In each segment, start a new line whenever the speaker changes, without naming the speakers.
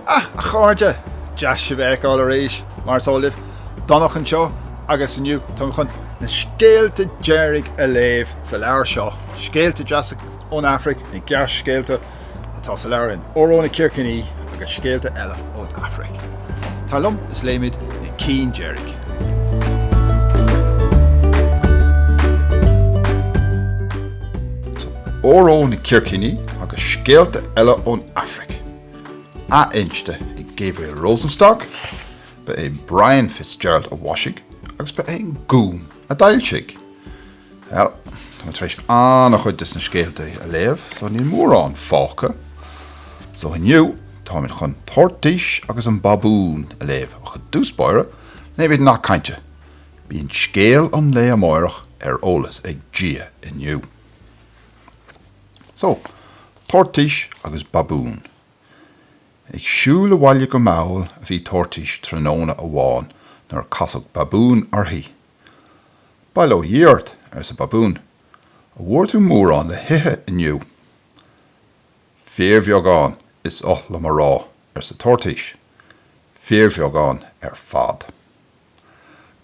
Ah, a chairde, deas sibh a fheiceáil arís, mar is eol libh, Domhnach anseo agus inniu tá mé chun na scéalta deireanacha a léamh sa leabhar seo, scéalta deasa ón Afraic, na gearrscéalta. atá sa leabhar Óró na Circiní agus Scéalta Eile ón Afraic. Tar liom is léimid na cinn deiridh! Óró na Circiní agus Scéalta Eile ón Afraic, athinste ag Gabriel Rosenstock, ba é Brian Fitzgerald a mhaisigh agus ba é an Gúm a d'fhoilsigh. Bhuel, tá mé tar éis an-chuid des na scéalta a léamh, so níl mórán fágtha. So inniu, táimid chun Toirtís agus an Babún a léamh, ach i dtús báire, léimid nath cainte, Bíonn scéal an lae amáireach ar eolas ag Dia inniu. So, Toirtís agus Babún. Ag siúl abhaile go mall a bhí Toirtís tráthnóna amháin nuair a casadh Babún uirthi. Bail ó Dhia ort, arsa Babún, an bhfuair tú mórán le hithe inniu? Fíorbheagán, is oth liom a rá, arsa Toirtís, fíorbheagán ar fad.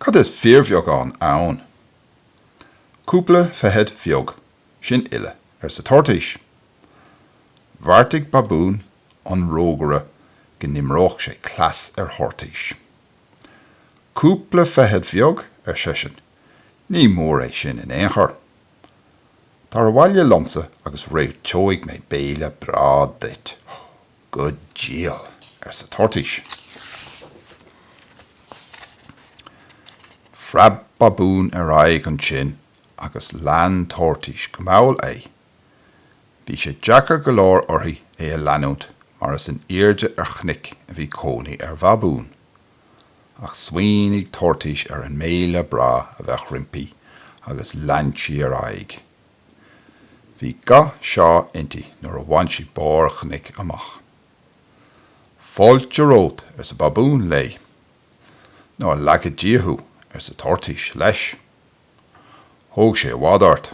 Cad is fíorbheagán ann? Cúpla feithid bheag, sin uile, arsa Toirtís. Bheartaigh Babún an rógaire go n-imreodh sé cleas ar Thoirtís. Cúpla feithid bheag, ar seisean, ní mór é sin in aon chor. Tar abhaile liomsa agus réiteoidh mé béile breá duit. Go diail, arsa Toirtís. Phreab Babún ar aghaidh ansin agus lean Toirtís go mall é. Bhí sé deacair go leor uirthi é a leanúint mar is in airde ar chnoc a bhí cónaí ar Bhabún. Ach smaoinigh Toirtís ar an mbéile breá a bheadh roimpi agus lean sí ar aghaidh. Bhí ga seá inti nuair a bhain sí barr an chnoic amach. Fáilte romhat, arsa Babún léi. Nár lagaí Dia thú, arsa Toirtís leis. Thóg sé i bhfad ort.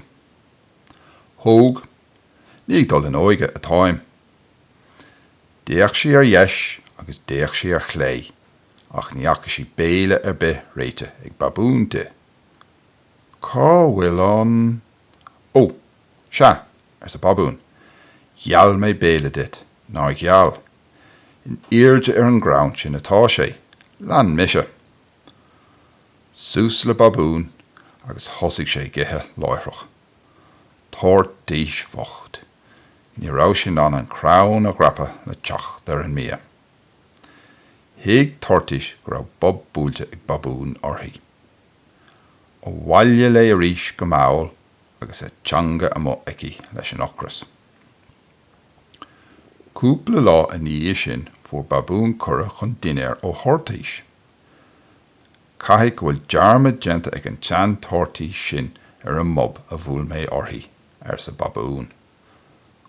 Thóg, ní ag dul in óige atáim. D'fhéach sí ar dheis agus d'fhéach sí ar chlé ach ní fhaca sí béile ar bith réitithe ag Babún di. Cá bhfuil an.? Ó, sea, arsa Babún, gheall mé béile duit, nár gheall? In airde ar an gcrann sin atá sé, lean mise. Suas le Babún agus thosaigh sé ag ithe láithreach. Toirtís bhocht! Ní raibh sí in ann an crann a dhreapadh le teacht ar an mbia. Thuig Toirtís go raibh bob buailte ag Babún uirthi. Abhaile léi arís go mall agus a teanga amuigh aici leis an ocras. Cúpla lá ina dhiaidh sin fuair Babún cuireadh chun dinnéir ó Thoirtís. Caithfidh go bhfuil dearmad déanta ag an tseantoirtís sin ar an mbob a bhuail mé uirthi, arsa Babún.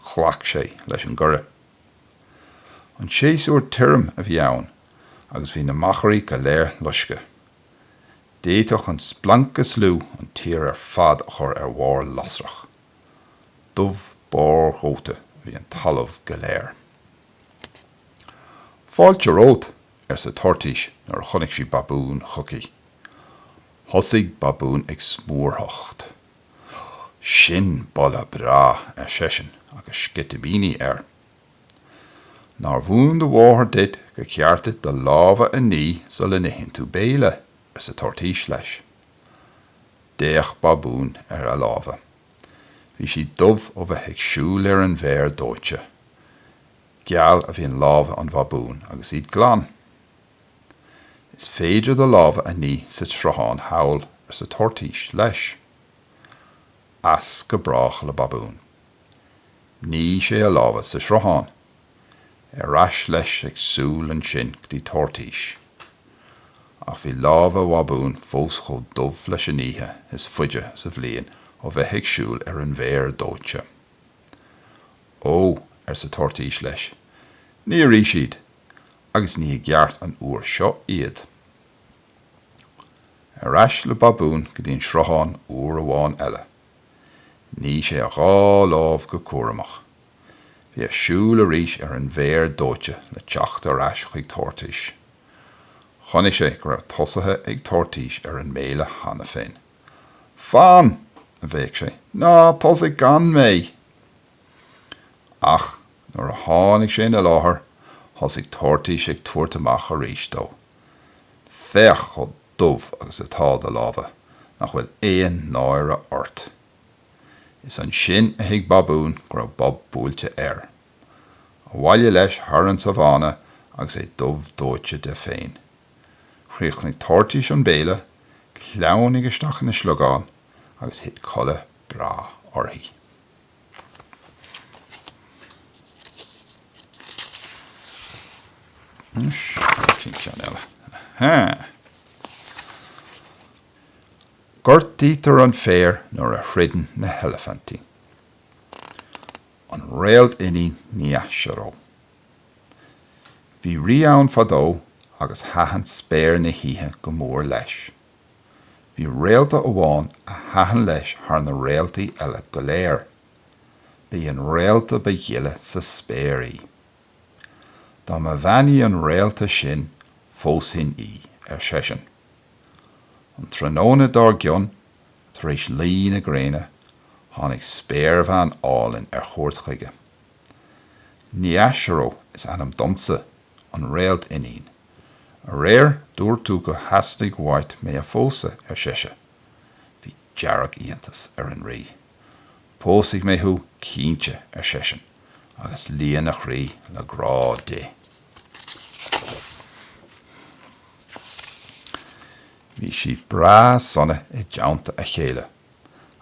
Ghlac sé leis an gcuireadh. An séasúr tirim a bhí ann agus bhí na machairí go léir loiscthe. D'fhéadfadh an splanc is lú an tír ar fad a chur ar bharr lasrach. Dubh barrdhóite a bhí an talamh go léir. Fáilte romhat, arsa Toirtís nuair a chonaic sí Babún chuici. Thosaigh Babún ag smúrthacht. Sin boladh breá, ar seisean agus sceitimíní air. Nár mhúin do mháthair duit gur ceart duit do lámha a ní sula n-itheann tú béile? arsa Toirtís leis. D'fhéach Babún ar a lámha. Bhí siad dubh ó bheith ag siúl ar an bhféar dóite. Geal a bhíonn lámha babúin agus iad glan. Is féidir do lámha a ní sa tsruthán thall, arsa Toirtís leis. As go brách le Babún. Nigh sé a lámha sa tsruthán. Ar ais leis ag siúl ansin go dtí Toirtís. Ach bhí lámha Bhabúin fós chomh dubh leis an oíche is faide sa bhliain ó bheith ag siúl ar an bhféar dóite. Ó, arsa Toirtís leis, nigh arís iad, agus nigh i gceart an uair seo iad. Ar ais le Babún go dtí an sruthán uair amháin eile. Nigh sé a dhá lámh go cúramach. Bhí air siúl arís ar an bhféar dóite le teacht ar ais chuig Toirtís. Chonaic sé go raibh tosaithe ag Toirtís ar an mbéile cheana féin. Fan! a bhéic sé, ná tosaigh gan mé! Ach nuair a tháinig sé ina láthair, thosaigh Toirtís ag tabhairt amach arís dó. Féach chomh dubh agus atá do lámha, nach bhfuil aon náire ort! Is ansin a thuig Babún go raibh bob buailte air. Abhaile leis thar an sabhána agus é dubh dóite de féin. Chríochnaigh Toirtís an béile, shleamhnaigh isteach ina sliogán agus thit codladh breá uirthi. Gortaítear an féar nuair a throideann na heilifintí. An Réalt-Iníon Nyachero. Bhí rí ann fadó agus thaitin spéir na hoíche go mór leis. Bhí réalta amháin a thaitin leis thar na réaltaí eile go léir. Ba í an réalta ba ghile sa spéir í. Dá mba bhean í an réalta sin, phósfainn í, ar seisean. An tráthnóna dár gcionn, tar éis luí na gréine, tháinig spéirbhean álainn ar chuairt chuige. Nyachero is ainm domsa, an réalt-iníon. Aréir dúirt tú gur theastaigh uait mé a phósadh, ar sise. Bhí dearg-iontas ar an Rí. Pósfaidh mé thú, cinnte, ar seisean, agus líon a chroí le grá di. Bhí siad breá sona i dteannta a chéile,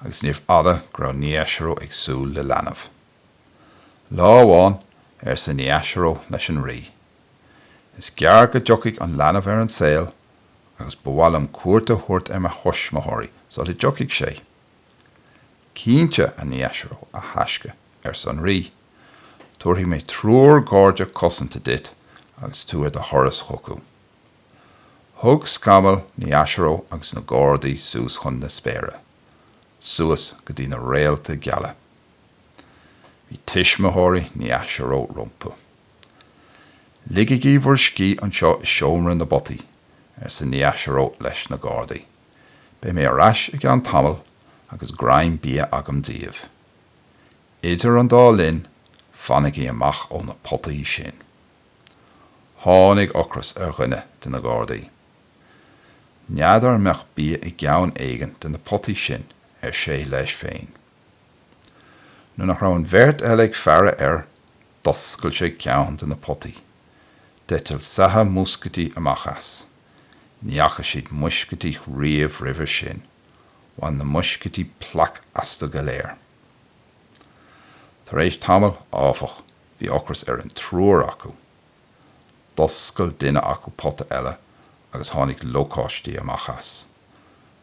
agus níorbh fhada go raibh Nyachero ag súil le leanbh. Lá amháin, arsa Nyachero leis an Rí, is gearr go dtiocfaidh an leanbh ar an saol agus ba mhaith liom cuairt a thabhairt ar mo thuismitheoirí sula dtiocfaidh sé. Cinnte, a Nyachero, a thaisce, arsa an Rí, tabharfaidh mé triúr garda cosanta duit agus tú ar do thuras chucu. Thug scamall Nyachero agus na gardaí suas chun na spéire, suas go dtí na réalta geala. Bhí tuismitheoirí Nyachero rompu. 'Ligigí bhur scíth anseo i seomra na bpotaí, arsa Nyachero leis na gardaí. 'Beidh mé ar ais i gceann tamaill agus greim bia agam daoibh. Idir an dá linn, fanaigí amach ó na potaí sin. Tháinig ocras ar dhuine de na gardaí. 'N'fheadar an mbeadh bia i gceann éigin de na potaí sin, ar sé leis féin. Nuair nach raibh an bheirt eile ag faire air, d'oscail sé ceann de na potaí. D'eitil saithe muiscítí amach as. Ní fhaca siad muiscítí riamh roimhe sin. Bhain na muiscítí plaic astu go léir. Tar éis tamaill, áfach, bhí ocras ar an triúr acu. D'oscail duine acu pota eile agus tháinig lócáistí amach as.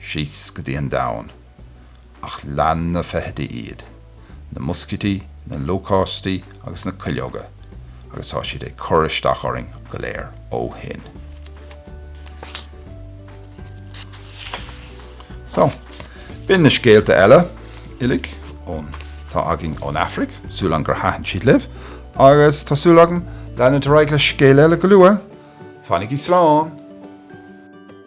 síos go dtí an domhan, ach lean na feithidí iad, na muiscítí, na lócáistí agus na cuileoga, agus tá siad ag cur isteach orainn go léir ó shin. So, b'in na scéalta eile uilig ón tá againn ón Afraic, súil agam gur thaitin siad libh, agus tá súil agam leanfaidh ar aghaidh le scéal eile go luath, fanaigí slán!